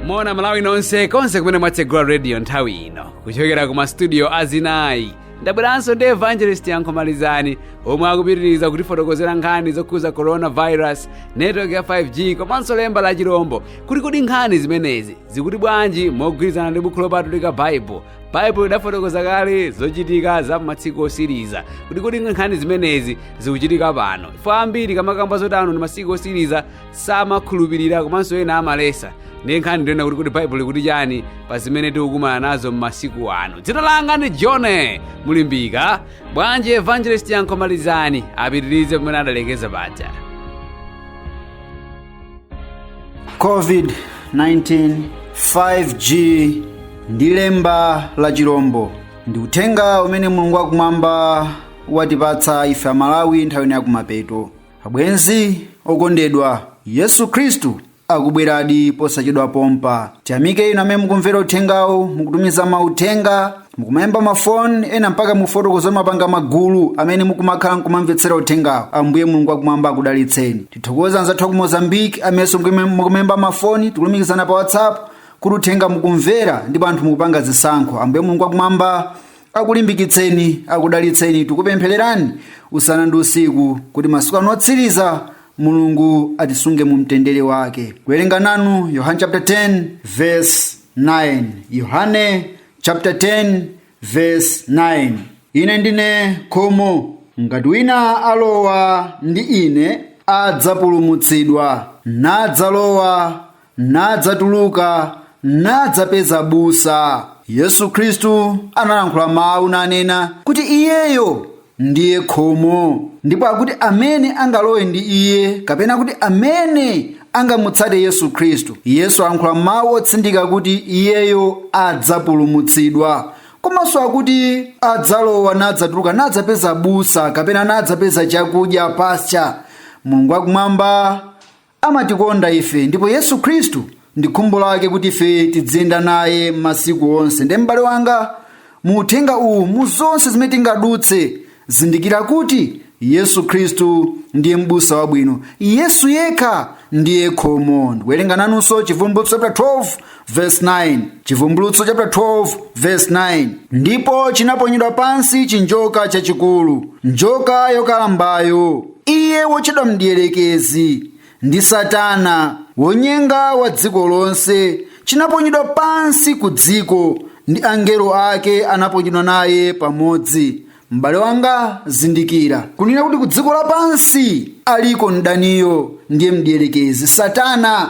moni malawi nonse konse kumene mwatsegula radio nthawi ino kuchokera ku mastudio azinayi ndabweranso ndi evangelist yankho malizani omwe akupitiriza kutifotokozera nkhani zokhuza coronavirus network ya 5g komanso lemba la chirombo kuti kodi nkhani zimenezi zikuti bwanji mogwirizana ndi bukhu lopatulika bible baibulo idafotokoza kale zochitika za masiku otsiriza kuti kodi nkhani zimenezi zikuchitika pano chifukwa ambiri ukamakamba zoti ano ndi masiku otsiriza samakhulupirira komanso ena amaletsa ndiye nkhani ndi yonena kuti kodi baibulo ikuti chani pa zimene tikukumana nazo m'masiku ano dzina langa ndi john mulimbika bwanji evangelist yankho malizani apitirize pamene adalekeza paja covid-19 5g ndi lemba la chirombo ndi uthenga umene mulungu wakumwamba watipatsa ife amalawi nthawi ino yakumapeto abwenzi okondedwa yesu khristu akubweradi posachedwa pompa tiyamike inu amene mukumvera uthengawo mukutumiza mauthenga mukumayimba mafoni ena mpaka mufotokoza mwapanga magulu amene mukumakhala nkumamvetsera uthengawo ambuye mulungu wakumwamba akudalitseni tithokoze anzathu aku mozambique amenenso mukumayimba mafoni tikulumikizana pa whatsapp kuti uthenga mukumvera ndipo anthu mukupanga zisankho ambuye mulungu wakumwamba akulimbikitseni akudalitseni tikupemphererani usana ndi usiku kuti masiku ano otsiriza mulungu atisunge mu mtendere wake kuwerenga nanu yohane chapter 10 verse 9 yohane chapter 10 verse 9 ine ndine khomo ngati wina alowa ndi ine adzapulumutsidwa nadzalowa nadzatuluka nadzapeza busa yesu khristu analankhula mawu nanena kuti iyeyo ndiye khomo ndipo akuti amene angalowe ndi iye kapena kuti amene angamutsate yesu khristu yesu ayankhula mawu otsindika kuti iyeyo adzapulumutsidwa komanso akuti adzalowa nadzatuluka nadzapeza busa kapena nadzapeza chakudya pasture mulungu wakumwamba Amatikonda ife, ndipo Yesu Khristu ndi khumbo lake kuti ife tidziyenda naye masiku onse. Nde m'bale wanga, mu uthenga uwu, mu zonse zimene tingadutse, zindikira kuti Yesu Khristu ndiye m'busa wabwino. Yesu yekha ndiye khomo. Ndikuwerenga nanunso Chivumbulutso chapter 12 verse 9 chivumbulutso chapter 12 verse 9 ndipo chinaponyedwa pansi chinjoka chachikulu njoka yokalambayo iye wotchedwa mdierekezi ndi satana wonyenga wa dziko lonse chinaponyedwa pansi ku dziko ndi angelo ake anaponyedwa naye pamodzi m'bale wanga zindikira kunena kuti kudziko lapansi aliko mdaniyo ndiye mdierekezi satana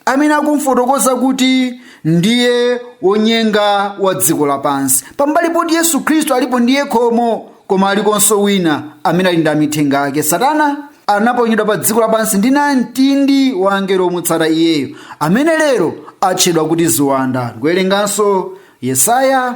amene akumfotokoza kuti ndiye wonyenga wa dziko lapansi pambali poti yesu khristu alipo ndiye khomo koma alikonso wina amene ali ndi amithenga ake satana anaponyedwa pa dziko lapansi ndi namtindi wa angelo omutsata iyeyo amene lero atchedwa kuti ziwanda ndikuwerenganso yesaya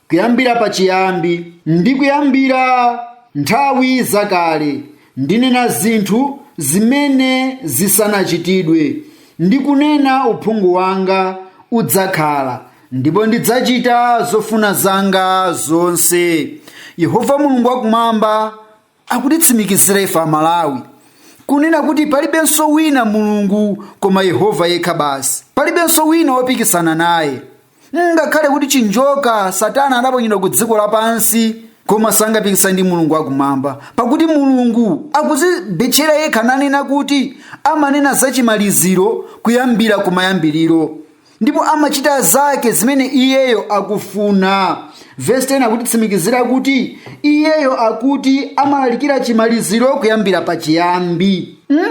kuyambira pachiyambi ndi kuyambira nthawi zakale ndinena zinthu zimene zisanachitidwe ndi kunena uphungu wanga udzakhala ndipo ndidzachita zofuna zanga zonse yehova mulungu wakumwamba akutitsimikizira ife amalawi kunena kuti palibenso wina mulungu koma yehova yekha basi palibenso wina wopikisana naye ngakhale kuti chinjoka satana adaponyedwa ku dziko lapansi koma sangapikisane ndi mulungu akumwamba pakuti mulungu akuzibetchera yekha nanena kuti amanena za chimaliziro kuyambira kumayambiriro ndipo amachita zake zimene iyeyo akufuna vesi 10 akutitsimikizira kuti iyeyo akuti amalalikira chimaliziro kuyambira pachiyambi hmm?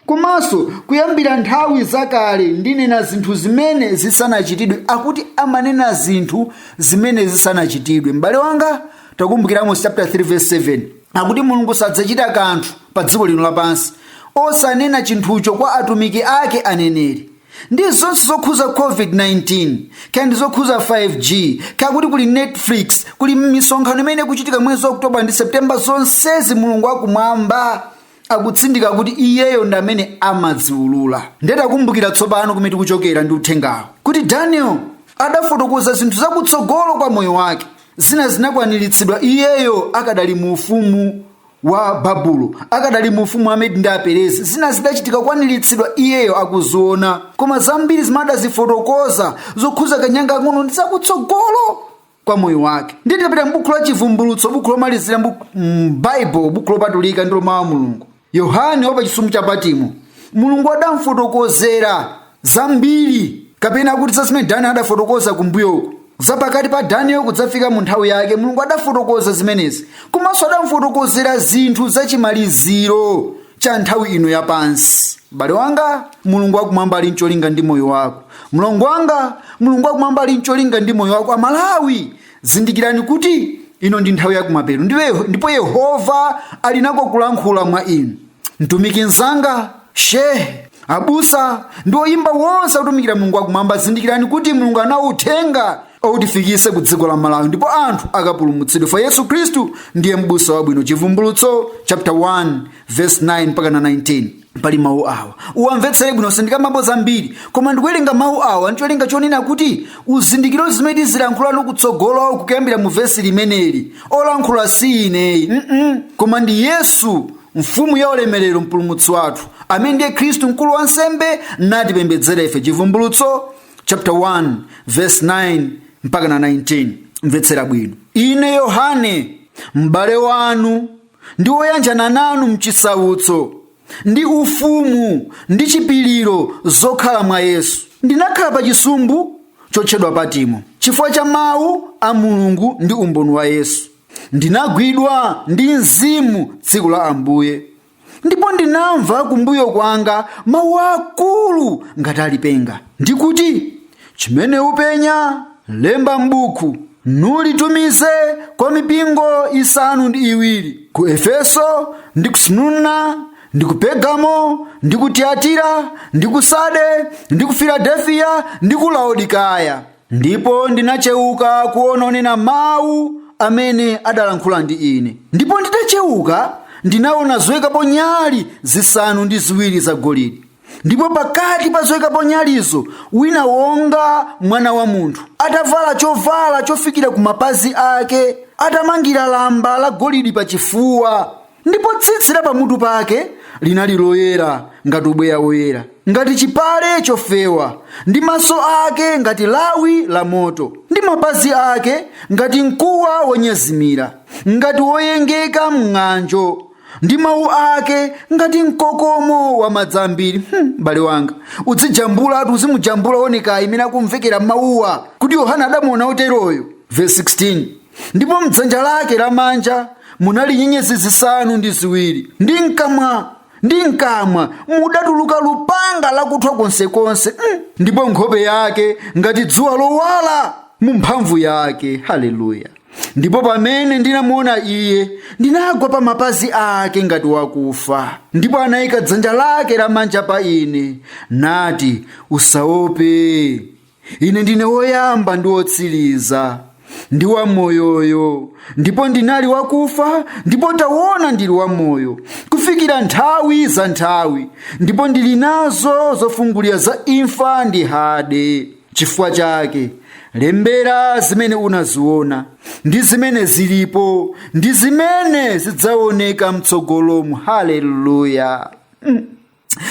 komanso kuyambira nthawi zakale ndinena zinthu zimene zisanachitidwe akuti amanena zinthu zimene zisanachitidwe m'bale wanga takumbukira amos chapter 3 verse 7 akuti mulungu sadzachita kanthu pa dziko lino lapansi osanena chinthucho kwa atumiki ake aneneri ndi zonse zokhuza covid-19 kaya ndi zokhuza 5g kaya kuti kuli netflix kuli misonkhano imene ikuchitika mwezi wa oktoba ndi septemba zonsezi mulungu akumwamba akutsindika kuti iyeyo ndi amene amaziulula ndiye takumbukira tsopano kumene tikuchokera ndi uthengawo kuti daniel adafotokoza zinthu zakutsogolo kwa moyo wake zina zinakwaniritsidwa iyeyo akadali mu ufumu wa babulo akadali mu ufumu wa medi ndi aperezi zina zidachitika kukwaniritsidwa iyeyo akuziona koma zambiri zimene adazifotokoza zokhuza kanyanga kang'ono ndi zakutsogolo kwa moyo wake ndiye tikapita m'buku la chivumbulutso buku lomalizira m'baibulo buku lopatulika ndi la mawu a mulungu yohane wa pachisumbu cha patimo mulungu adamfotokozera zambiri kapena kuti za zimene danieli adafotokoza kumbuyoku za pakati pa danieli kudzafika mu nthawi yake mulungu adafotokoza zimenezi komanso adamufotokozera zinthu za chimaliziro cha nthawi ino yapansi m'bale wanga mulungu wakumwamba ali ncholinga ndi moyo wako mlongo wanga mulungu wakumwamba ali ncholinga ndi moyo wako amalawi zindikirani kuti ino ndi nthawi yakumapeto ndipo yehova ali nako kulankhula mwa inu mtumiki mzanga shehe abusa ndi oyimba wonse akutumikira mulungu wakumwamba zindikirani kuti mulungu anawo uthenga oti ufike ku dziko la malawi ndipo anthu akapulumutsidwe mwa yesu khristu ndiye m'busa wabwino chivumbulutso chapter 1 verse 9 mpaka na 19 pali mawu awa uwamvetsere bwino sindikambapo zambiri koma ndikuwerenga mawu awa ndicholinga chonena kuti uzindikire zimene tizilankhulana kutsogoloku kuyambira mu vesi limeneli olankhula si ine ayi mm koma ndi yesu mfumu ya ulemerero mpulumutsi wathu amene ndiye khristu mkulu wa nsembe natipembedzera ife chivumbulutso chapter 1 verse 9 mpaka na 19 mvetsera bwino ine yohane m'bale wanu ndi woyanjana nanu mchisautso ndi ufumu ndi chipiliro zokhala mwa yesu ndinakhala pa chisumbu chotchedwa patimo chifukwa cha mawu a mulungu ndi umboni wa yesu ndinagwidwa ndi mzimu tsiku la ambuye ndipo ndinamva kumbuyo kwanga mawu akulu ngati a lipenga ndikuti chimene upenya lemba m'buku nulitumize kwa mipingo isanu ndi iwiri ku efeso ndi ku smurna ndi ku pergamo ndi ku tiyatira ndi ku sade ndi ku filadelfiya ndi ku laodikaya ndipo ndinacheuka kuona wonena mawu amene adalankhula ndi ine ndipo nditacheuka ndinaona zoyikapo nyali zisanu ndi ziwiri zagolide ndipo pakati pa zoyikapo nyalizo wina wonga mwana wa munthu atavala chovala chofikira ku mapazi ake atamangira lamba la golidi pa chifuwa ndipo tsitsi la pamutu pake linali loyera ngati ubweya woyera ngati chipale chofewa ndi maso ake ngati lawi la moto ndi mapazi ake ngati mkuwa wonyezimira ngati woyengeka mng'anjo ndi mawu ake ngati mkokomo wa madzi ambiri Hmm, m'bale wanga uzijambulatu uzimujambula onekedwe mmene akumvekera mawuwa kuti yohane adamuona woteroyo verse 16 ndipo mdzanja lake lamanja munali nyenyezi zisanu ndi ziwiri ndi mkamwa ndi mkamwa mudatuluka lupanga lakuthwa konsekonse mm. ndipo nkhope yake ngati dzuwa lowala mu mphamvu yake haleluya ndipo pamene ndinamuona iye ndinagwa pa mapazi ake ngati wakufa ndipo anayika dzanja lake lamanja pa ine nati usaope ine ndine woyamba ndi wotsiriza ndi wamoyoyo ndipo ndinali wakufa ndipo taona ndili wamoyo kufikira nthawi za nthawi ndipo ndili nazo zofungulira za imfa ndi hade chifukwa chake lembera zimene unaziona ndi zimene zilipo ndi zimene zidzaoneka mtsogolomu haleluya mm.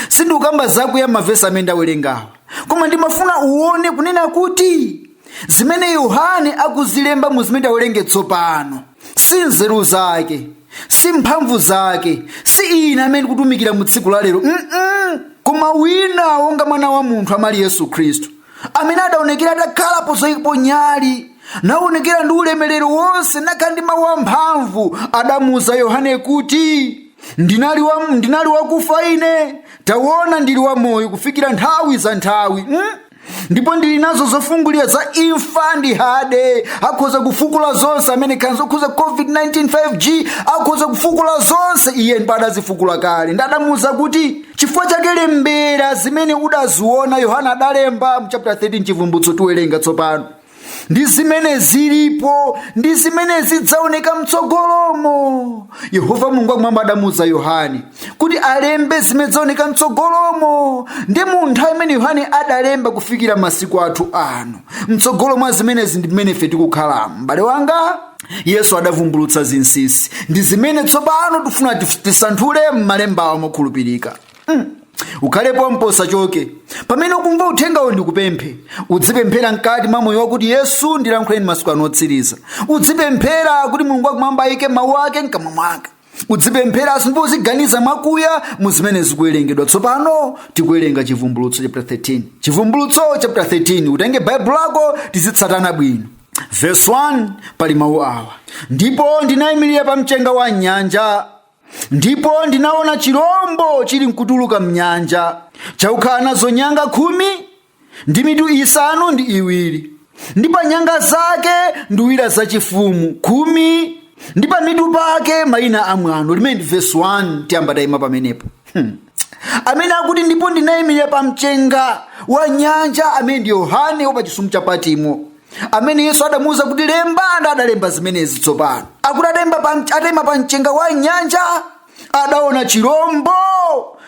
sindikukamba zakuya mmavesi amene ndawerengawa koma ndimafuna uone kunena kuti zimene yohane akuzilemba mu zimene tawerenge tsopano si nzeru zake si mphamvu zake si ine amene kutumikira mu tsiku la lero Mm-mm. koma wina wonga mwana wa munthu amali yesu khristu amene adaonekera atakhala pozoikapo nyali naonekera ndi ulemerero wonse nakhala ndi mawu amphamvu adamuuza yohane kuti ndinali, wa, ndinali wakufa ine taona ndili wa moyo kufikira nthawi za nthawi mm? ndipo ndili nazo zofungulira za imfa ndi hade akhoza kufukula zonse amene nkhani zokhuza covid-19 5g akhoza kufukula zonse iye mpo adazifukula kale nde adamuuza kuti chifukwa chake lembera zimene udaziona yohane adalemba mchapter 13 chivumbulutso tiwerenga tsopano ndi zimene zilipo ndi zimene zidzaoneka mtsogolomo yehova mulungu wakumwamba adamuuza yohane kuti alembe zimene zidzaoneka mtsogolomo ndi mu nthawi imene yohane adalemba kufikira masiku athu ano mtsogolo mwa zimenezi ndi mmene ife tikukhala m'bale wanga yesu adavumbulutsa zinsinsi ndi zimene tsopano tifuna tif- tisanthule m'malembawo mokhulupirika ukhale pompo usachoke pamene ukumva uthengawo ndikupemphe udzipemphera mkati mwa moyo wako kuti yesu ndilankhuleni masiku ano otsiriza udzipemphera kuti mulungu wakumwamba ayike mawu ake mkamwa mwake udzipempheraso ndipo uziganiza mwakuya mu zimene zikuwerengedwa tsopano tikuwerenga chivumbulutso chapter 13 chivumbulutso chapter 13 utenge baibulo lako tizitsatana bwino verse 1 pali mawu awa ndipo ndinayimirira pa mchenga wa nyanja ndipo ndinaona chirombo chili nkutuluka mnyanja chakukhala nazo nyanga khumi ndi mitu isanu ndi iwiri ndi pa nyanga zake nduwira zachifumu khumi ndi pa mitu pake mayina a mwano limene ndi vesi 1 tiyamba tayima pamenepo hmm. amene akuti ndipo ndinayimirira pa mchenga wa nyanja amene ndi yohane wa pa chisumu cha patimo amene yesu adamuwuza kuti lemba nde adalemba zimenezi tsopano akuti adaimba pa- adaima pa mchenga wa nyanja adaona chirombo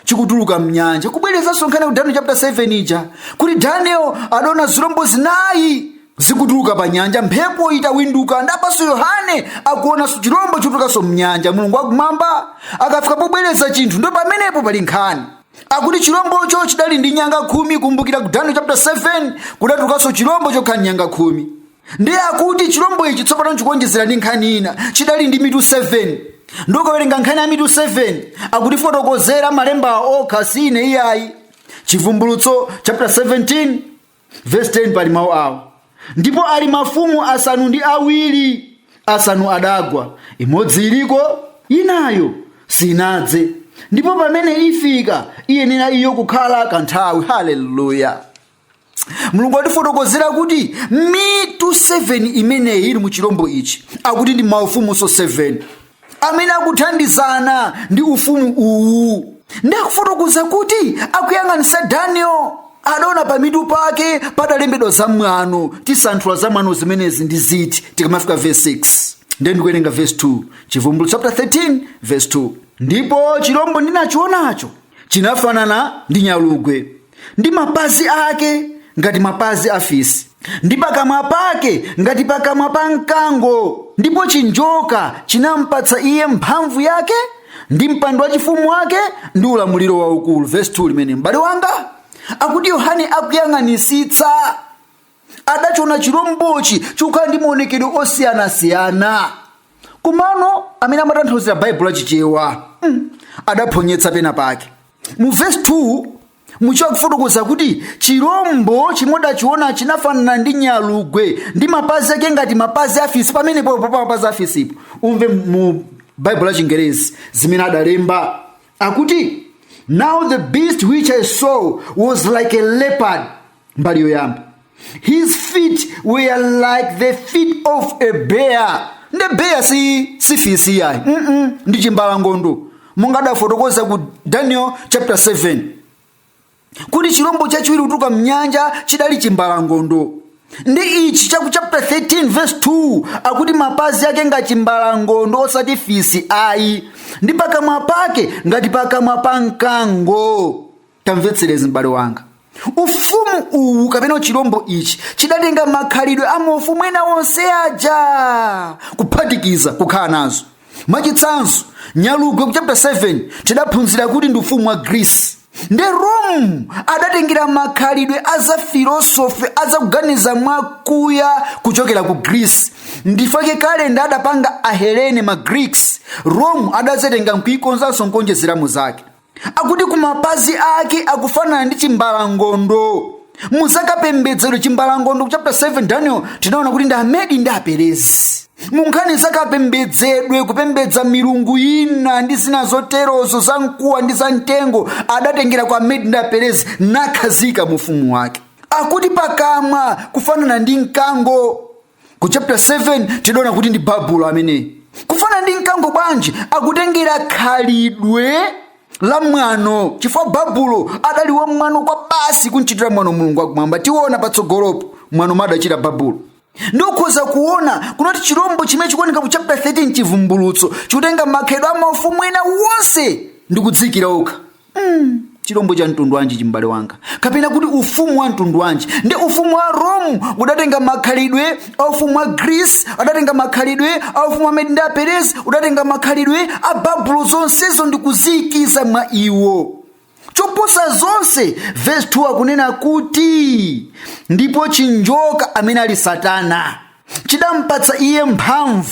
chikutuluka mnyanja kubwerezanso nkhani ya daniel chapter 7 ija kuti daniel adaona zirombo zinayi zikutuluka pa nyanja mphepo itawinduka ndapanso yohane akuonanso chirombo chikutulukanso mnyanja mulungu wakumwamba akafika pobwereza chinthu ndo pamenepo pali nkhani akuti chilombocho chidali ndi nyanga khumi kumbukira ku daniel chapter 7 kudatulukanso chilombo chokhala ndi nyanga khumi ndiye akuti chilombo ichi tsopano chikuonjezera ndi nkhani ina chidali ndi mitu 7 ndi ukawerenga nkhani ya mitu 7 akutifotokozera malemba okha sine iyayi chivumbulutso chapter 17 vesi 10 pali mawu awo ndipo ali mafumu asanu ndi awiri asanu adagwa imodzi iliko inayo sinadze ndipo pamene ifika iyenera iyo kukhala kanthawi haleluya mulungu watifotokozera kuti mitu 7 imeneyi ili mu chilombo ichi akuti ndi maufumunso 7 amene akuthandizana ndi ufumu uwu ndi akufotokoza kuti akuyang'anisa daniel adaona pa mitu pake padalembedwa zamwano tisanthula zamwano zimenezi ndi ziti tikamafika verse 6 ndiye ndikuwerenga verse 2 chivumbulutso chapter 13 verse 2 ndipo chilombo ndinachionacho chinafanana ndi nyalugwe ndi mapazi ake ngati mapazi a fisi ndi pakamwa pake ngati pakamwa pa mkango ndipo chinjoka chinampatsa iye mphamvu yake ndi mpando wachifumu wake ndi ulamuliro waukulu vesi 2 limene m'bale wanga akuti yohane akuyang'anisitsa adachiona chilombochi chikukhala ndi maonekedwe osiyanasiyana komano amene amatanthauzira baibulo a chichewa adaphonyetsa pena pake mu vesi 2 muchichewa akufotokoza kuti chilombo chimene adachiona chinafanana ndi nyalugwe ndi mapazi ake ngati mapazi afisi pamenepo pa mapazi afisipo umve mu baibulo a chingerezi zimene adalemba akuti now the beast which i saw was like a leopard mbali yoyamba his feet were like the feet of a bear nde bear si fisi yayi ndi chimbalangondo monga adafotokoza ku daniel chapter 7 kuti chilombo chachiwiri kutuluka mnyanja chidali chimbalangondo ndi ichi chaku chapter 13 verse 2 akuti mapazi ake ngati chimbalangondo osati fisi ayi ndi pakamwa pake ngati pakamwa pa mkango tamvetserezi m'bale wanga ufumu uwu kapena uchilombo ichi chidatenga makhalidwe a maufumu ena onse aja kuphatikiza kukhala nazo mwachitsanzo nyalugwe ku chapter 7 tidaphunzira kuti ndi ufumu wa grisi nde rome adatengera makhalidwe a za filosofi a za kuganiza mwakuya kuchokera ku grisi ndi chifukwa chake kalenda adapanga ahelene ma greeks rome adazatenga nkuikonzanso nkuonjezeramo zake akuti kumapazi ake akufanana ndi chimbalangondo muzakapembedzedwe chimbalangondo ku chapter 7 daniel tinaona kuti ndi amedi ndi aperezi munkhani zakapembedzedwe kupembedza milungu ina ndi zina zoterozo za mkuwa ndi za mtengo adatengera kwa amedi ndi aperezi nakhazika mufumu wake akuti pakamwa kufanana ndi mkango ku chapter 7 tidaona kuti ndi babulo amene kufanana ndi mkango bwanji akutengera khalidwe la mwano chifukwa babulo adali wa mwano kwabasi kumchitira mwano mulungu wakumwamba tiona patsogolopo mwano umene adachita babulo nde ukhoza kuona kunena kuti chirombo chimene chikuoneka ku chapter 13 chivumbulutso chikutenga makhalidwe a maufumu ena wonse ndi kudziikira okha chilombo cha mtundu wanji ichi m'bale wanga kapena kuti ufumu wa mtundu wanji ndi ufumu wa rome udatenga makhalidwe a ufumu wa greece udatenga makhalidwe a ufumu wa amedi ndi aperezi udatenga makhalidwe a babulo zonsezo ndi kuziikiza mwa iwo choposa zonse vesi 2 akunena kuti ndipo chinjoka amene ali satana chidampatsa iye mphamvu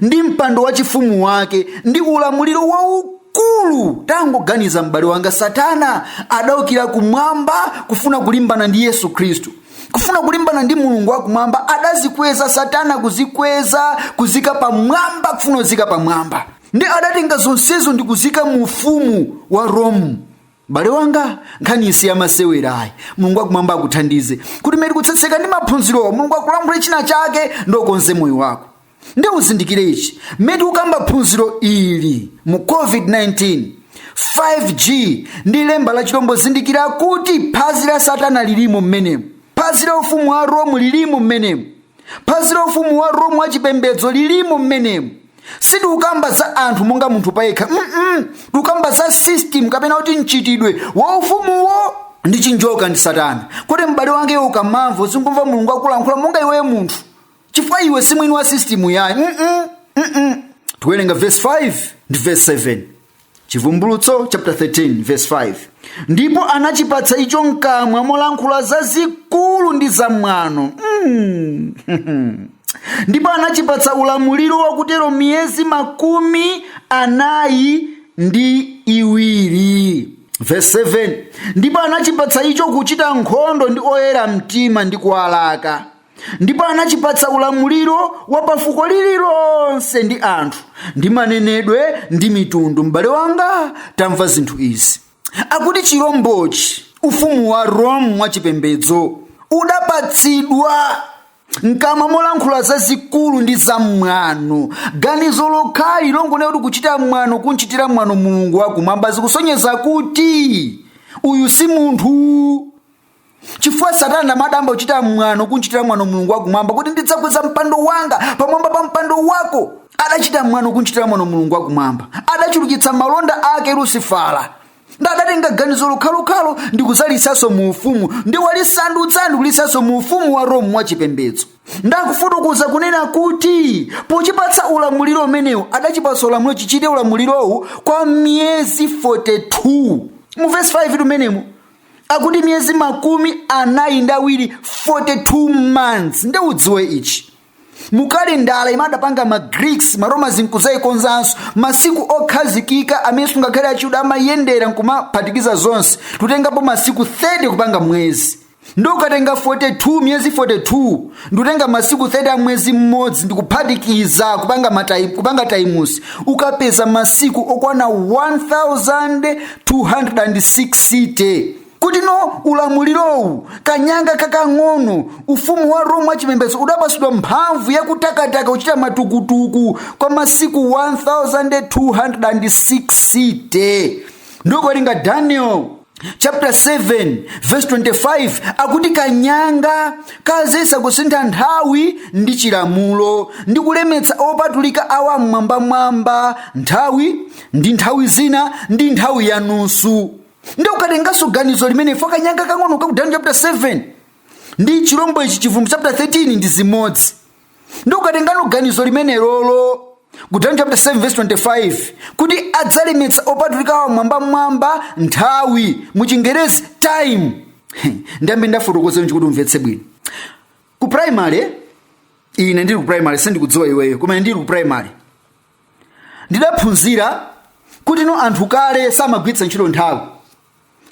ndi mpando wachifumu wake ndi ulamuliro waukulu tangoganiza m'bale wanga satana adaukira kumwamba kufuna kulimbana ndi yesu khristu kufuna kulimbana ndi mulungu wakumwamba adazikweza satana kuzikweza kuziika pamwamba kufuna kuziika pamwamba nde adatenga zonsezo ndi kuziika mu ufumu wa rome m'bale wanga nkhaniyi si yamasewera ayi mulungu wakumwamba akuthandize kuti mmene tikutsetseka ndi maphunzirowa mulungu akulankhule china chake ndi ukonze moyo wako nde uzindikire ichi mmene tikukamba phunziro ili mu covid-19 5g ndi lemba la chilombo zindikira kuti phazi la satana lilimo mmenemo phazi la ufumu wa romu lilimo mmenemo phazi la ufumu wa romu wa chipembedzo lilimo mmenemo sitikukamba za anthu monga munthu payekha mm tikukamba za system kapena kuti mchitidwe wa ufumuwo ndi chinjoka ndi satana kuti m'bale wanga iwe ukamamva uzingomva mulungu akulankhula monga iweyo munthu chifukwa iwe si mwini wa system-yi ayi mm -mm, mm -mm. tiwerenga verse 5 ndi verse 7 chivumbulutso chapter 13 verse 5 ndipo anachipatsa icho mkamwa molankhula zazikulu ndi zamwano mm. ndipo anachipatsa ulamuliro wakutero miyezi makumi anayi ndi iwiri verse 7 ndipo anachipatsa icho kuchita nkhondo ndi oyera mtima ndi kuwalaka ndipo anachipatsa ulamuliro wa pafuko lililonse ndi anthu ndi manenedwe ndi mitundu m'bale wanga tamva zinthu izi akuti chilombochi ufumu wa rome wachipembedzo udapatsidwa mkamwa molankhula zazikulu ndi zamwano ganizo lokhali longonena kuti kuchita mwano kunchitira mwano mulungu wakumwamba zikusonyeza kuti uyu si munthu chifukwa satana ndadayamba kuchita mwano kunchitira mwano mulungu wakumwamba kuti ndidzakweza mpando wanga pamwamba pa mpando wako adachita mwano kunchitira mwano mulungu wakumwamba adachulukitsa malonda ake lusifala ndadatenga ganizo lokhalokhalo ndi kuzaliikanso mu ufumu ndi walisandutsa ndi kulisanso mu ufumu wa rome wa chipembedzo ndakufotokoza kunena kuti pochipatsa ulamuliro umenewu adachipatsa ulamuliro chichite ulamulirowu kwa miyezi 42 mu vesi 5 tumenemu akuti miyezi makumi anayi ndi awiri 42 months nde udziwe ichi mukalendala imene adapanga ma greeks ma romans nkuzayikonzanso masiku okhazikika amene sungakhale achiyuda amayendera nkumaphatikiza zonse titengapo masiku 30 kupanga mwezi nde ukatenga 42 miyezi 42 ndikutenga masiku 30 a mwezi mmodzi ndikuphatikiza kupanga times ukapeza masiku okwana 1000 260 kutino ulamulirowu kanyanga kakang'ono ufumu wa rome wachipembedzo udapatsidwa mphamvu yakutakataka kuchita matukutuku kwa masiku 1260 nde ukawerenga daniel chapter 7 verse 25 akuti kanyanga kazayesa kusintha nthawi ndi chilamulo ndi kulemetsa opatulika a wammwambamwamba nthawi ndi nthawi zina ndi nthawi yanusu nde ukatenganso ganizo limene ife kanyanga kang'ono ka ku daniel chapter 7 ndi chilombo ichi chivumbulutso chapter 13 ndi zimodzi nde ukatengano ganizo limenelolo ku daniel chapter 7 verse 25 kuti adzalemetsa opatulika a wammwambamwamba nthawi mu chingerezi time ndiyambe ndafotokoza nji kuti umvetse bwino ku primary ine ndili ku primary sindikudziwa iweyo koma ine ndili ku primary ndidaphunzira kuti no anthu kale samagwiritsa ntchito nthawi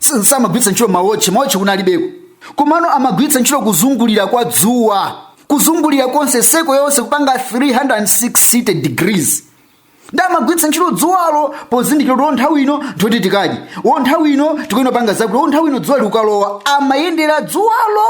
S- samagwiritsa ntchito mawotchi mawotchi kunalibeko komano amagwiritsa ntchito kuzungulira kwa dzuwa kuzungulira konse seko yonse kupanga 360 degrees ndi amagwiritsa ntchito dzuwalo pozindikira kuti nthawi ino ndoti tikadye wo nthawi ino tikuyenera kupanga zakuti wo nthawi ino dzuwa likukalowa amayendera dzuwalo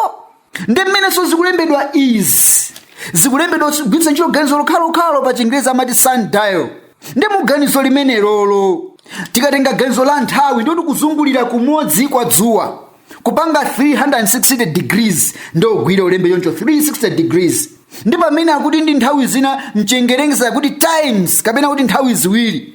ndi mmenenso zikulembedwa izi zikulembedwa kugwiritsa ntchito ganizo lokhalokhalo pa chingerezi amati sundial ndi mu ganizo limenelolo tikatenga ganizo la nthawi ndoti kuzungulira kumodzi kwa dzuwa kupanga 360 degrees ndi ogwira ulembe choncho 360 degrees ndi pamene akuti ndi nthawi zina mchingerezi kuti times kapena kuti nthawi ziwiri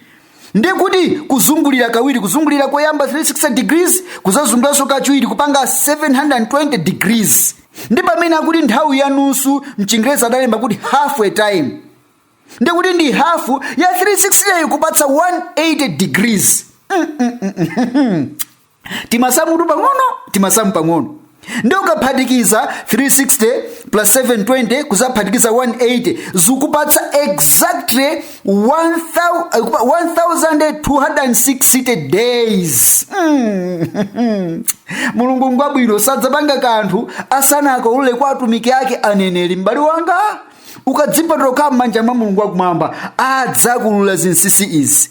ndiye kuti kuzungulira kawiri kuzungulira koyamba 360 degrees kuzazunguliranso kachiwiri kupanga 720 degrees ndi pamene akuti nthawi ya nusu mchingerezi adalemba kuti half a time ndiye kuti ndi hafu ya 360 kupatsa 180 degrees timasamutu pang'ono timasamu pang'ono ndi ukaphatikiza 360 plus 720 kuzaphatikiza 180 zikupatsa exactly 1260 days mulungu ngwabwino sadzapanga kanthu asanakaulule kwa atumiki ake aneneri m'bale wanga ukadzipatula kukhala m'manja mwa mulungu wakumwamba adzakuulula zinsinsi izi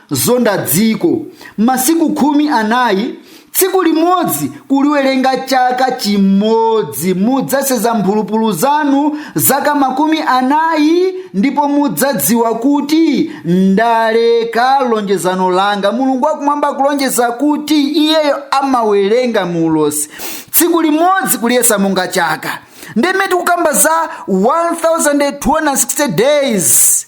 Zonda dziko. Masiku khumi anayi tsiku limodzi kuliwerenga chaka chimodzi mudzasenza mphulupulu zanu zaka makumi anayi ndipo mudzadziwa kuti ndaleka lonjezano langa mulungu wakumwamba kulonjeza kuti iyeyo amawerenga mu ulosi tsiku limodzi kuliyesa monga chaka ndiye mmene tikukamba za 1260 days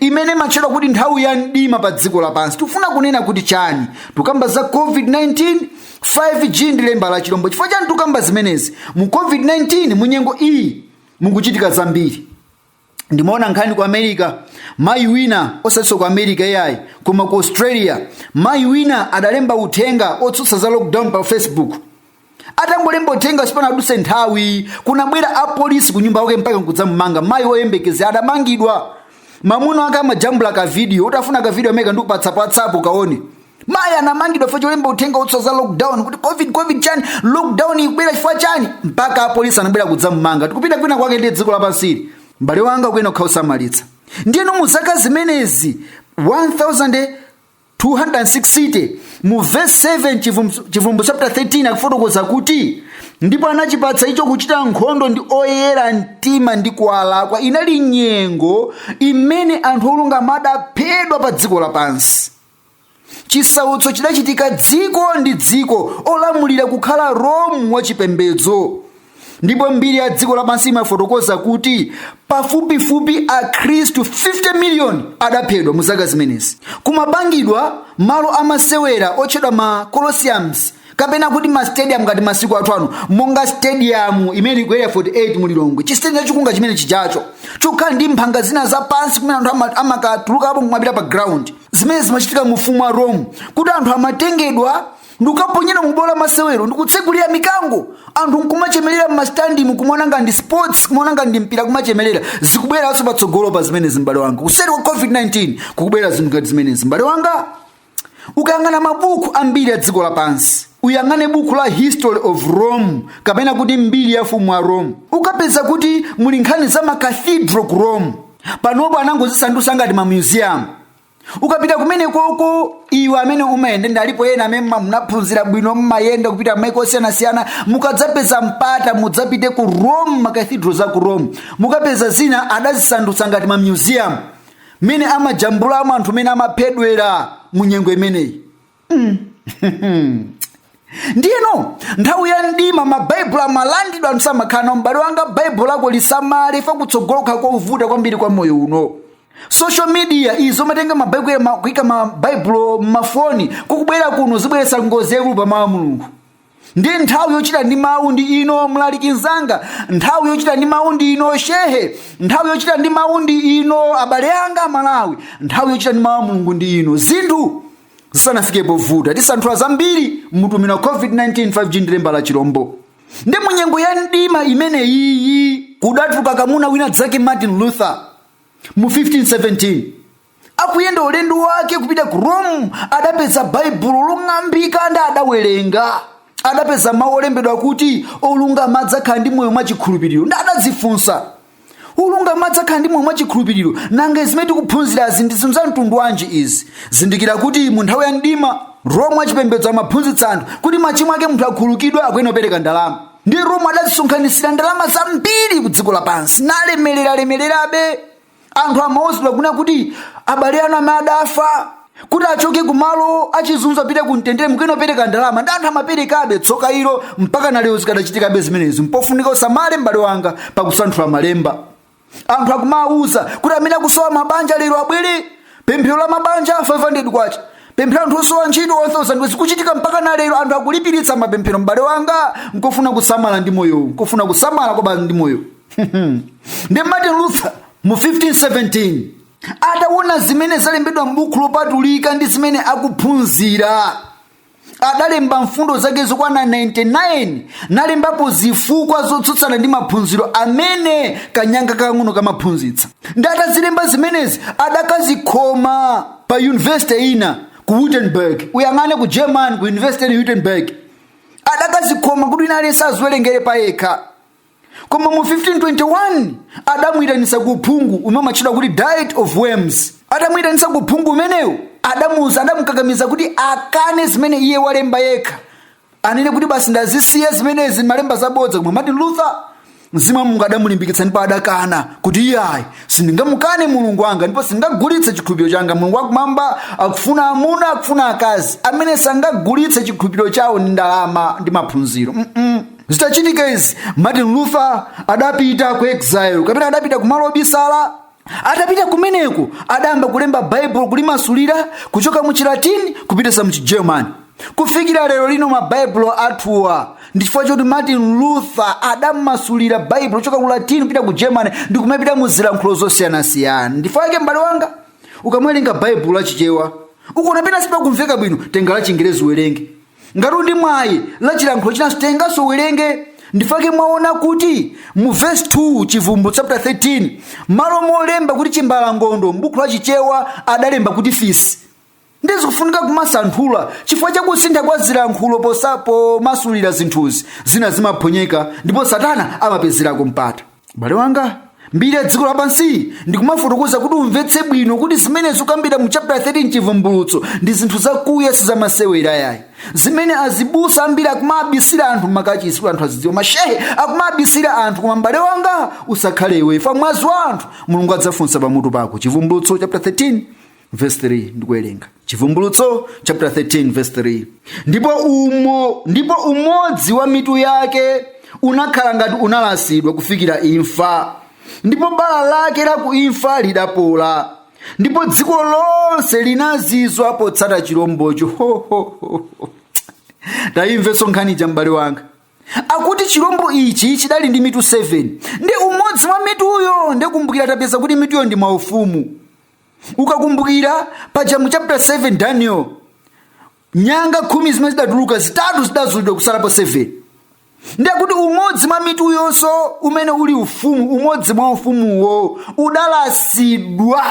imene imatchedwa kuti nthawi ya mdima pa dziko lapansi tifuna kunena kuti chani tukamba za covid-19 5g ndi lemba la chilombo chifukwa chani tukamba zimenezi mu covid-19 mu nyengo iyi mukuchitika zambiri ndimaona nkhani ku america mayi wina osatinso ku america iyayi koma ku australia mayi wina adalemba uthenga otsutsa za lockdown pa facebook atangolemba uthenga sipanaduse nthawi kunabwera apolisi ku nyumba yake mpaka nkudzamumanga mayi woyembekeza adamangidwa mamuna wake amajambula ka video utafuna ka video ameneka ndikupatsa pa WhatsApp ukaone mayi anamangidwa chifukwa cholemba uthenga wotsutsa za lockdown kuti covid covid chani lockdown ikubwera chifukwa chani mpaka apolisi anabwera kudzamumanga tikupita kwina kwake ndi dziko lapansili mbale wanga kuyenera kukhala osamalitsa ndiyeno mu zaka zimenezi 1000 1260 mu verse 7 Chivum- chivumbulutso chapter 13 akufotokoza kuti ndipo anachipatsa icho kuchita nkhondo ndi oyera mtima ndi kuwalakwa inali nyengo imene anthu olungama adaphedwa pa dziko lapansi chisautso chidachitika dziko ndi dziko olamulira kukhala rome wachipembedzo ndipo mbiri ya dziko lapansi imafotokoza kuti pafupifupi akhristu 50 miliyoni adaphedwa mu zaka zimenezi kumapangidwa malo amasewera otchedwa ma colosseums kapena kuti ma stadium ngati masiku athu ano monga stadium imene ili ku Area 48 mu Lilongwe chistadium chachikulu ngati chimene chijacho chokhala ndi mphanga zina zapansi kumene anthu ama- amakatulukapo nkumapita pa ground zimene zimachitika mu ufumu wa rome kuti anthu amatengedwa ndikukaponyedwa mu bwalo la masewero ndikutsegulira mikango anthu nkumachemerera mmastadium kumaona ngati sports kumaona ngati mpira kumachemerera zikubweranso patsogolo pa zimenezi m'bale wanga kuseri kwa covid-19 kukubwera zinthu ngati zimenezi m'bale wanga ukayang'ana mabuku ambiri a dziko lapansi uyang'ane buku la history of rome kapena kuti mbiri ya ufumu wa rome ukapeza kuti muli nkhani za makathidro ku rome panopo anangozisandutsa ngati mamuseum ukapita kumene koko iwe amene umayenda alipo ena amene mma- munaphunzira bwino mmayenda kupita mmaiko osiyanasiyana mukadzapeza mpata mudzapite ku rome makathidro za ku rome mukapeza zina adazisandutsa ngati ma museum mmene amajambulamo anthu mmene amaphedwera mu nyengo imeneyi ndiyeno nthawi ya mdima mabaibulo amalandidwa anthu samakhala nawo m'bale wanga baibulo lako lisamale chifukwa kutsogolo kukhala kovuta kwambiri kwa moyo uno social media izo kumatenga mabaibulo ema- kuika mabaibulo m'mafoni kukubwera kuno zibweretsa ngozi yaikulu pa mawu a mulungu ndiye nthawi yochita ndi mawu ndi ino mlaliki mnzanga nthawi yochita ndi mawu ndi ino shehe nthawi yochita ndi mawu ndi ino abale anga amalawi nthawi yochita ndi mawu a mulungu ndi ino zinthu zisanafike povuta tisanthula zambiri m'mutu umenewu wa covid-19 5g ndi lemba la chilombo ndi munyengo ya mdima imene iyi kudatuluka kamuna wina dzake martin luther mu 1517 akuyenda ulendo wake kupita ku rome adapeza baibulo long'ambika ndi adawerenga adapeza mawu olembedwa kuti olungama adzakhala ndi moyo mwachikhulupiriro ndi adadzifunsa olungama adzakhala ndi moyo mwachikhulupiriro nanga zimene tikuphunzirazi ndi zinthu za mtundu wanji izi zindikira kuti mu nthawi ya mdima rome wachipembedzo amaphunzitsa anthu kuti machimo ake munthu akhululukidwe akuyenera kupereka ndalama ndi rome adazisonkhanitsira ndalama zambiri ku dziko lapansi nalemereralemererabe anthu amauzidwa kunena kuti abale anu amene adafa kuti achoke kumalo achizunzo apite ku mtendere mukuyenera kupereka ndalama ndi anthu amaperekabe tsoka ilo mpaka nalero zikadachitikabe zimenezi mpofunika usamale m'bale wanga pakusanthula malemba anthu akumawauza kuti amene akusowa mabanja lero abwere pemphero la mabanja 500 kwacha pemphero la anthu osowa ntchito 1000 zikuchitika mpaka na lero anthu akulipiritsa mapemphero m'bale wanga nkofuna kusamala ndi moyowu nkofuna kusamala kwabasi ndi moyowu ndi martin luther mu 1517 ataona zimene zalembedwa m'buku lopatulika ndi zimene akuphunzira adalemba mfundo zake zokwana 99 nalembapo zifukwa zotsutsana ndi maphunziro amene kanyanga kakang'ono kamaphunzitsa ndi atazilemba zimenezi adakazikhoma pa yunivesite ina ku wittenberg uyo anganene ku german ku yunivesite ya wittenberg adakazikhoma kuti wina aliyense aziwerengere pa yekha koma mu 1521 adamuyitanitsa ku uphungu umene umatchedwa kuti diet of worms atamuyitanitsa ku uphungu umenewo adamuuza adamukakamiza kuti akane zimene iye walemba yekha anene kuti basi ndazisiya zimenezi ndalemba zabodza koma martin luther mzimu wa mulungu adamulimbikitsa ndipo adakana kuti iyayi sindingamukane mulungu wanga ndipo sindingagulitse chikhulupiriro changa mulungu wakumwamba akufuna amuna akufuna akazi amene sangagulitse chikhulupiriro chawo ndi ndalama ndi maphunziro mm -mm. zitachitika izi martin luther adapita ku exile kapena adapita kumalo obisala atapita kumeneko adayamba kulemba baibulo kulimasulira kuchoka mu chilatini kupititsa mu chigerman kufikira lero lino mabaibulo athuwa ndi chifukwa choti martin luther adamasulira baibulo kuchoka ku latini kupita ku german ndi kumapita mu zilankhulo zosiyanasiyana ndifukwa yake m'bale wanga ukamawerenga baibulo la chichewa ukuona pena sipakumveka bwino tenga la chingerezi uwerenge ngati uli ndi mwayi la chilankhulo chinanso tenganso uwerenge ndifukwa chake mwaona kuti mu vesi 2 chivumbu chapter 13 malo molemba kuti chimbalangondo m'buku la chichewa adalemba kuti fisi ndiye zikufunika kumasanthula chifukwa cha kusintha kwa zilankhulo posa- pomasulira zinthuzi zina zimaphonyeka ndipo satana amapezerako mpata m'bale wanga mbiri ya dziko lapansi ndikumafotokoza kuti umvetse bwino kuti zimene zikukambidwa mu chapter 13 chivumbulutso ndi zinthu zakuya sizamasewera yayi zimene azibusa ambiri akumabisira anthu m'makachisi kuti anthu asadziwe mashehe akumabisira anthu koma m'bale wanga usakhale iwe chifukwa mwazi wa anthu mulungu adzafunsa pamutu pako chivumbulutso chapter 13 verse 3 ndikuwerenga chivumbulutso chapter 13 verse 3 ndipo umo ndipo umodzi wa mitu yake unakhala ngati unalasidwa kufikira imfa ndipo bala lake la ku imfa lidapola ndipo dziko lonse linazizwa potsata chilombocho Ho, ho, ho, ho. tayimvenso nkhani ija m'bale wanga akuti chilombo ichi chidali ndi mitu 7 ndi umodzi wa mituyo ndikumbukira tapeza kuti mituyo ndi maufumu ukakumbukira paja mu chapter 7 daniel nyanga khumi zimene zidatuluka zitatu zidazulidwa kusalapo 7 ndi akuti umodzi mwa mituyonso umene uli ufumu umodzi mwa ufumuwo udalasidwa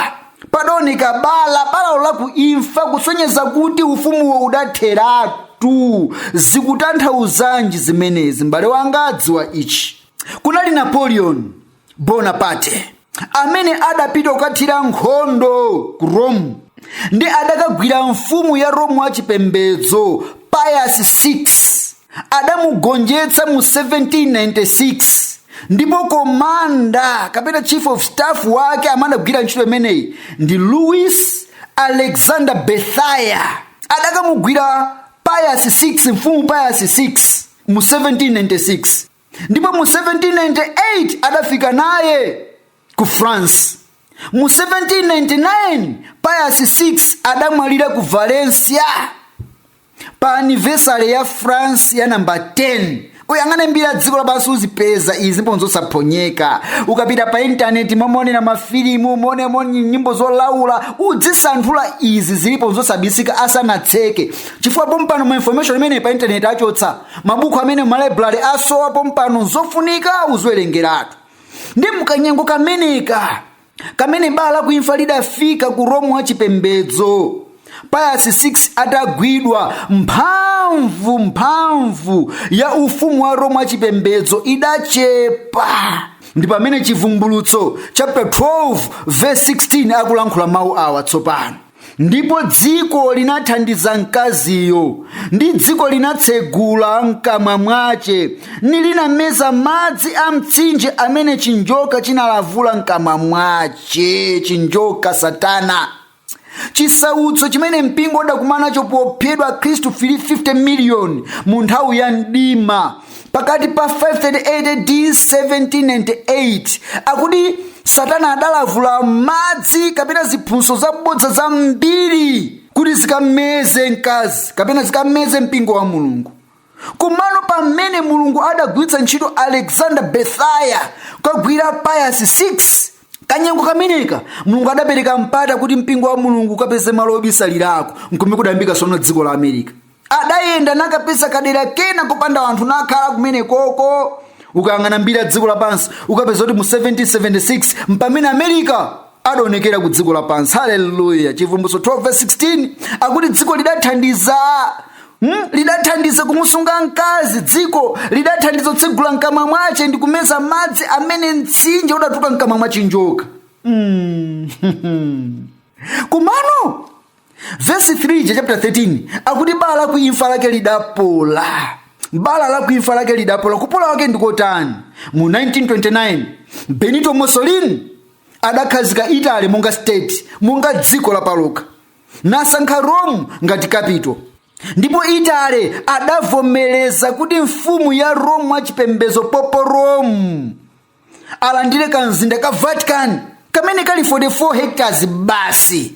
padaoneka bala balalo la ku imfa kusonyeza kuti ufumuwo udatheratu zikutanthauzanji zimenezi m'bale wanga dziwa ichi kunali napoleon bonaparte amene adapita kukathira nkhondo ku rome ndi adakagwira mfumu ya rome wachipembedzo pius 6 adamugonjetsa mu 1796 ndipo komanda kapena chief of staff wake amene adagwira ntchito imeneyi ndi louis alexander berthier adakamugwira pius 6 mfumu pius 6 mu 1796 ndipo mu 1798 adafika naye ku france mu 1799 pius 6 adamwalira ku valencia pa anivesari ya france ya namba 10 uyang'ane mbiri ya dziko lapansi uzipeza izi mpo nzosaphonyeka ukapita pa intaneti momaonera mafilimu momamva nyimbo zolaula udzisanthula izi zilipo zosabisika asanatseke chifukwa pompano ma information amene pa intaneti achotsa mabuku amene mmalaibulale asowa pompano zofunika uziwerengeratu ndi mkanyengo kameneka kamene bala la kuimfa lidafika ku romu wa chipembedzo pius 6 atagwidwa mphamvu mphamvu ya ufumu wa romu wa chipembedzo idachepa ndi pamene chivumbulutso chapter 12 verse 16 akulankhula mawu awa tsopano ndipo dziko linathandiza mkaziyo ndi dziko linatsegula mkamwa mwace nilinameza madzi a mtsinje amene chinjoka chinalavula mkamwa mwace chinjoka satana chisautso chimene mpingo udakumana nacho pophedwa akhristu 50 miliyoni mu nthawi ya mdima pakati pa 538 ad 1798 akuti satana adalavula madzi kapena ziphunzitso zabodza zambiri kuti zikameze mkazi kapena zikameze mpingo wa mulungu komano pamene mulungu adagwiritsa ntchito alexander bethaya kukagwira pius 6 kanyengo kameneka mulungu adapereka mpata kuti mpingo wa mulungu ukapeze malo obisalirako nkomwe kudayambika sono dziko la america adayenda nakapeza kadera kena kopanda anthu nakhala kumene koko ukayang'ana mbiri ya dziko lapansi ukapeza kuti mu 1776 mpamene america adaonekera ku dziko lapansi haleluya chivumbulutso 12:16 akuti dziko lidathandiza Hmm? lidathandiza kumusunga mkazi dziko lidathandiza kutsegula mkamwa mwache ndi kumeza madzi amene mtsinje udatuka mkamwa mwa chinjoka hmm. komano vesi 3 ya chapter 13 akuti bala la kuimfa lake lidapola bala la kuimfa lake lidapola kupola wake ndikotani mu 1929 benito mussolini adakhazika italy monga state monga dziko lapalokha nasankha rome ngati kapito ndipo italy adavomereza kuti mfumu ya rome wachipembedzo pope rome alandire kamzinda ka vatican kamene kali 44 hectares basi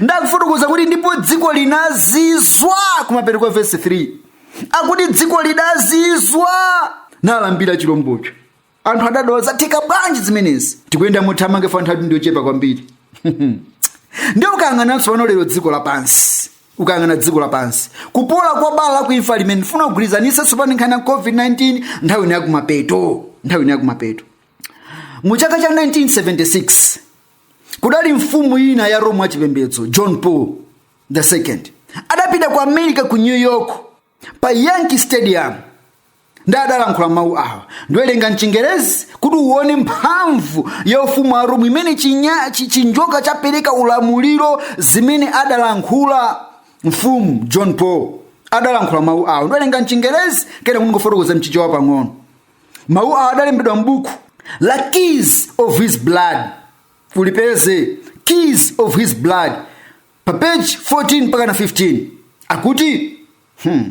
ndakufotokoza kuti ndipo dziko linazizwa kumapeto kwa vesi 3 akuti dziko lidazizwa nalambira chilombocho anthu adadabwa zatheka bwanji zimenezi tikuyenda mothamanga chifukwa nthawi ndiyochepa kwambiri ndiye ukayang'ana tsopano lero dziko lapansi ukayang'ana dziko lapansi kupola kwa bala la kuimfa limene ndifuna kugwirizanitsa tsopano nkhani ya covid-19 nthawi ino yakumapeto nthawi ino yakumapeto mu chaka cha 1976 kudali mfumu ina ya rome wachipembedzo john paul the second adapita ku america ku new york pa yankee stadium ndiye adalankhula mawu awa ndiwerenga mchingerezi kuti uone mphamvu ya ufumu wa rome imene chinya- chi- chinjoka chapereka ulamuliro zimene adalankhula mfumu john paul adalankhula mawu awa ndiwerenga mchingerezi kenako ndingofotokoza mchichewa pang'ono mawu awa adalembedwa m'buku la keys of his blood ulipeze keys of his blood pa page 14 mpakana 15 akuti hmm,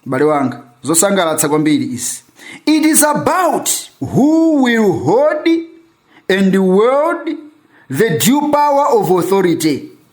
m'bale wanga zosangalatsa kwambiri izi it is about who will hold and wield the dual power of authority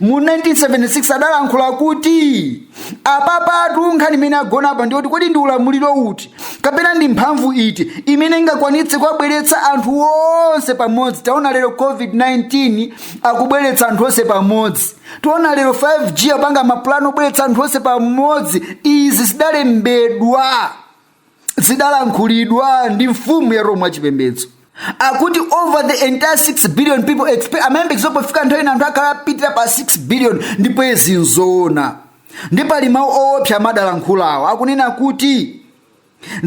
mu 1976 adalankhula kuti apapatu nkhani imene yagona apa ndiyoti kodi ndi ulamuliro uti kapena ndi mphamvu iti imene ingakwanitse kuwabweretsa anthu onse pamodzi taona lero covid-19 akubweretsa anthu onse pamodzi taona lero 5g yapanga mapulani obweretsa anthu onse pamodzi izi zidalembedwa zidalankhulidwa ndi mfumu ya roma chipembedzo akuti over the entire 6 billion people expect amayembekezo pofika nthawi ina anthu akhala apitira pa 6 billion ndipo izi nzoona ndi pali mawu owopsa amene adalankhulawo akunena kuti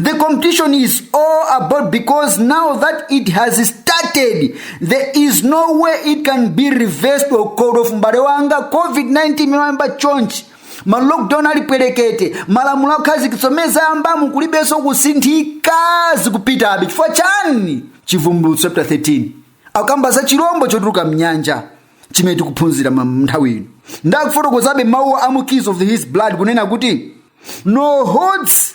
The competition is all about because now that it has started, there is no way it can be reversed or called off. Mbale wanga, COVID-19 imayamba chonchi ma lockdown ali pwerekete malamulo akhazikitsidwa m'dziko layambamu kulibenso kusinthika zikupitabe chifukwa chani chivumbulutso chapter 13 akamba za chilombo chotuluka mnyanja chimene tikuphunzira ma- nthawi ino ndakufotokozabe mawu a mu keys of this blood kunena kuti no holds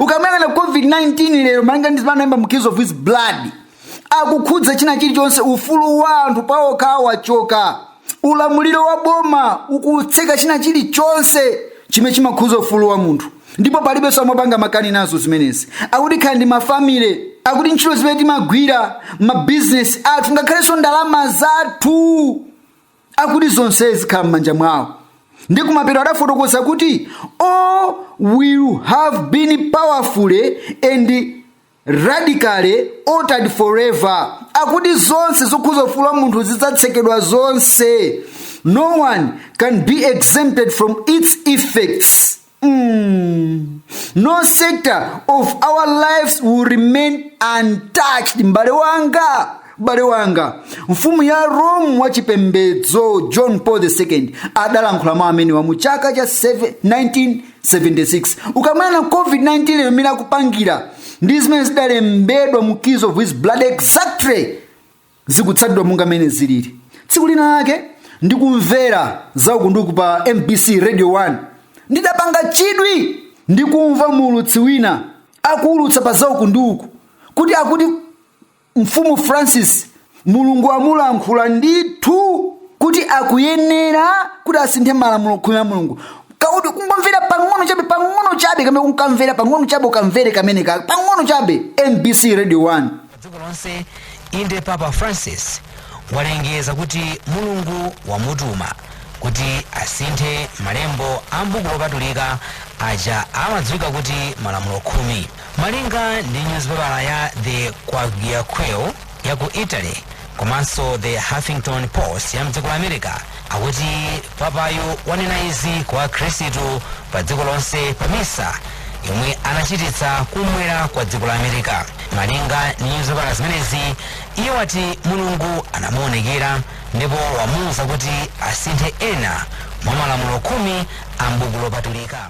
ukamuyang'ana covid-19 lero malinga ndi zimene analemba mu keys of this blood akukhudza china chilichonse ufulu wa anthu pawokha wachoka ulamuliro wa boma ukutseka china chilichonse chimene chimakhudza ufulu wa munthu ndipo palibenso amapanga makani nazo zimenezi akuti kukhala ndi mafamile akuti ntchito zimene timagwira mabizinesi athu ngakhalenso ndalama zathu akuti zonse zikhala m'manja mwawo ndi kumapeto adafotokoza kuti all will have been powerfully and radically altered forever akuti zonse zokhuza ufulu wa munthu zidzatsekedwa zonse no one can be exempted from its effects Mm. No sector of our lives will remain untouched. Mbale wanga, Mfumu ya Rome wa chipembedzo John Paul II adalankhula mawu amenewa mu chaka cha 1976. Ukamaona COVID-19 mmene akupangira ndi zimene zidalembedwa mu Keys of This Blood exactly zikutsatidwa monga mmene zilili tsiku lina lake ndikumvera zaukunduku pa mbc radio 1 ndidapanga chidwi ndikumva muulutsi wina akuulutsa pa zaukunduku kuti akuti mfumu francis mulungu amulankhula ndithu kuti akuyenera kuti asinthe malamulo khumi a mulungu kakuti kungomvera pang'ono chabe pang'ono chabe kamene kunkamvera pang'ono chabe ukamvere kamene ka pang'ono chabe mbc radio 1 dziko lonse inde papa francis walengeza kuti mulungu wamutuma kuti asinthe malembo a mbuku lopatulika aja amadziwika kuti malamulo khumi malinga ndi nyuzipepala ya the quagliaqueo ya ku italy komanso the huffington post ya mdziko la america akuti papayu wanena izi kwa akhristu pa dziko lonse pa misa yomwe anachititsa kumwera kwa dziko la america malinga ndi nyuzipepala zimenezi iye wati mulungu anamuonekera ndipo wamuwuza kuti asinthe ena mwa malamulo khumi a mbuku lopatulika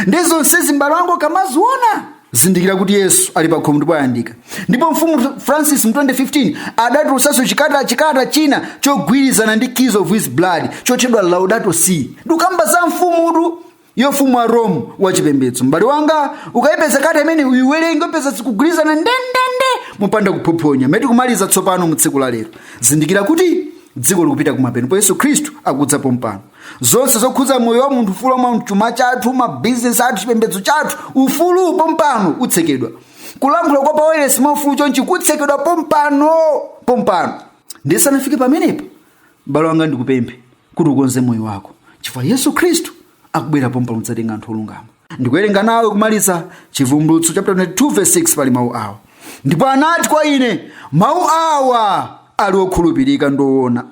ndi zonsezi m'bale wangu ukamaziona zindikira kuti yesu ali pa khomo ndipo ayandika ndipo mfumu francis mu 2015 adatulutsanso chikata chikata china chogwirizana ndi keys of his blood chotchedwa laudato si ndikukamba za mfumutu yofumu wa rome wachipembedzo m'bale wanga ukayipeza kata imene uyiwerenge upeza zikugwirizana ndendende mopanda kuphophonya mmene tikumaliza tsopano mu tsiku la lero zindikira kuti dziko likupita kumapeto ndipo yesu khristu akudza pompano zonse zokhudza moyo wa munthu ufulu wa munthu chuma chathu mabizinesi athu chipembedzo chathu ufulu pompano utsekedwa kulankhula kwa pawailesi mwa ufulu chonchi kutsekedwa pompano pompano ndiye zisanafike pamenepo m'bale wanga ndikupemphe kuti ukonze moyo wako chifukwa yesu khristu akubwera pompano kudzatenga anthu olungama ndikuwerenga nawe kumaliza chivumbulutso chapter 22 verse 6 pali mawu awa ndipo anati kwa ine mawu awa ali okhulupirika ndi owona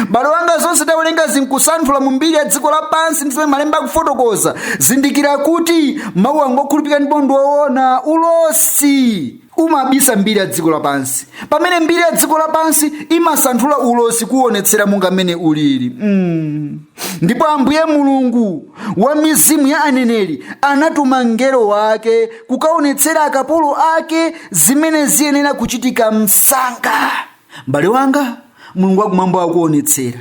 m'bale wanga zonse tawerenga zinkusanthula mu mbiri ya dziko lapansi ndi zomwe malemba akufotokoza zindikira kuti mawu anga okhulupirika ndipo ndi owona ulosi umabisa mbiri ya dziko lapansi pamene mbiri ya dziko lapansi imasanthula ulosi kuwonetsera monga mmene ulili ndipo ambuye mulungu wa mizimu ya aneneri anatuma mngelo wake kukaonetsera akapolo ake zimene ziyenera kuchitika msanga mbale wanga mulungu wakumwamba akuonetsera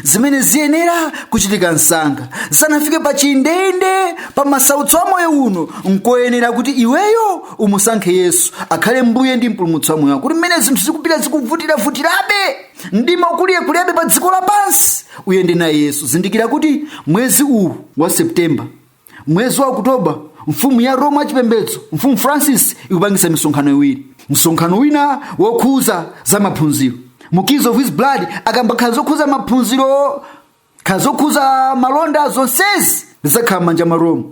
zimene ziyenera kuchitika msanga zisanafike pa chindeinde pa masautso a moyo uno nkoyenera kuti iweyo umusankhe yesu akhale mbuye ndi mpulumutsi wa moyo wako kuti mmene zinthu zikupita zikuvutiravutirabe mdima ukulirekulirabe pa dziko lapansi uyende naye yesu zindikira kuti mwezi uwu wa septemba mwezi wa okutoba mfumu ya roma yachipembedzo mfumu francis ikupangisa misonkhano iwiri msonkhano wina wokhuza za maphunziro mu keys of his blood akamba kaya zokhuza maphunziro kaya zokhuza malonda zonsezi zizakhala m'manja mwa roma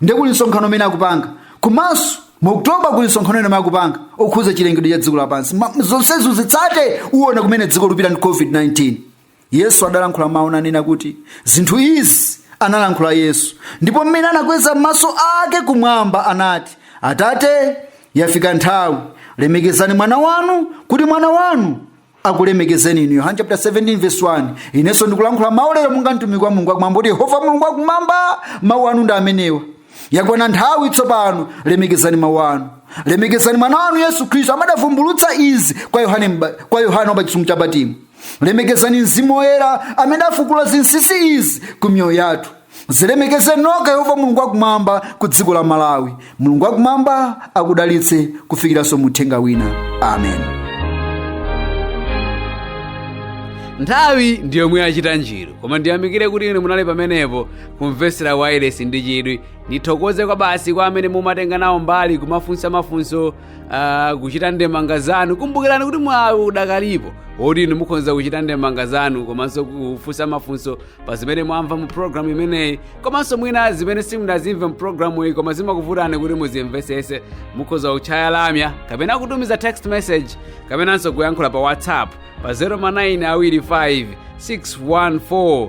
ndiye kuli msonkhano umene akupanga komanso mu oktoba kuli msonkhano wina umene akupanga okhuza chilengedwe cha dziko lapansi zonsezi uzitsate uona kumene dziko lupita ndi covid-19 yesu adalankhula mawu nanena kuti zinthu izi analankhula yesu ndipo mmene anakweza maso ake kumwamba anati atate yafika nthawi lemekezani mwana wanu kuti mwana wanu akulemekezeni inu yohane chapter 17 verse 1 inenso ndikulankhula mawu lero monga mtumiki wa mulungu wakumwamba kuti yehova mulungu wakumwamba mawu anu ndi amenewa yakwana nthawi tsopano lemekezani mawu anu lemekezani mwana wanu yesu khristu amene adavumbulutsa izi kwa yohane mba- kwa yohane wapa chisumbu cha patimo lemekezani mzimu woyera amene afukula zinsinsi izi ku miyoyo yathu zilemekezeni nokha yehova mulungu wakumwamba ku dziko la malawi mulungu wakumwamba akudalitse kufikiranso muthenga wina amen nthawi ndi yomwe yachita njiro koma ndiyamikire kuti inu munali pamenepo kumvetsera wailesi ndi chidwi ndithokoze kwabasi kwa amene mumatenga nawo mbali kumafunsa mafunso Ah, kuchita ndemanga zanu kumbukirani kuti mwawi udakalipo oti inu mukhoza kuchita ndemanga zanu komanso kufunsa mafunso pa zimene mwamva mu programu imeneyi komanso mwina zimene simunazimve mu programu iyi koma zimakuvutani kuti muzimvesese mukhoza kutchaya lamya kapena kutumiza text message kapenanso kuyankhula pa whatsapp pa 0 ma 9 awiri 5 614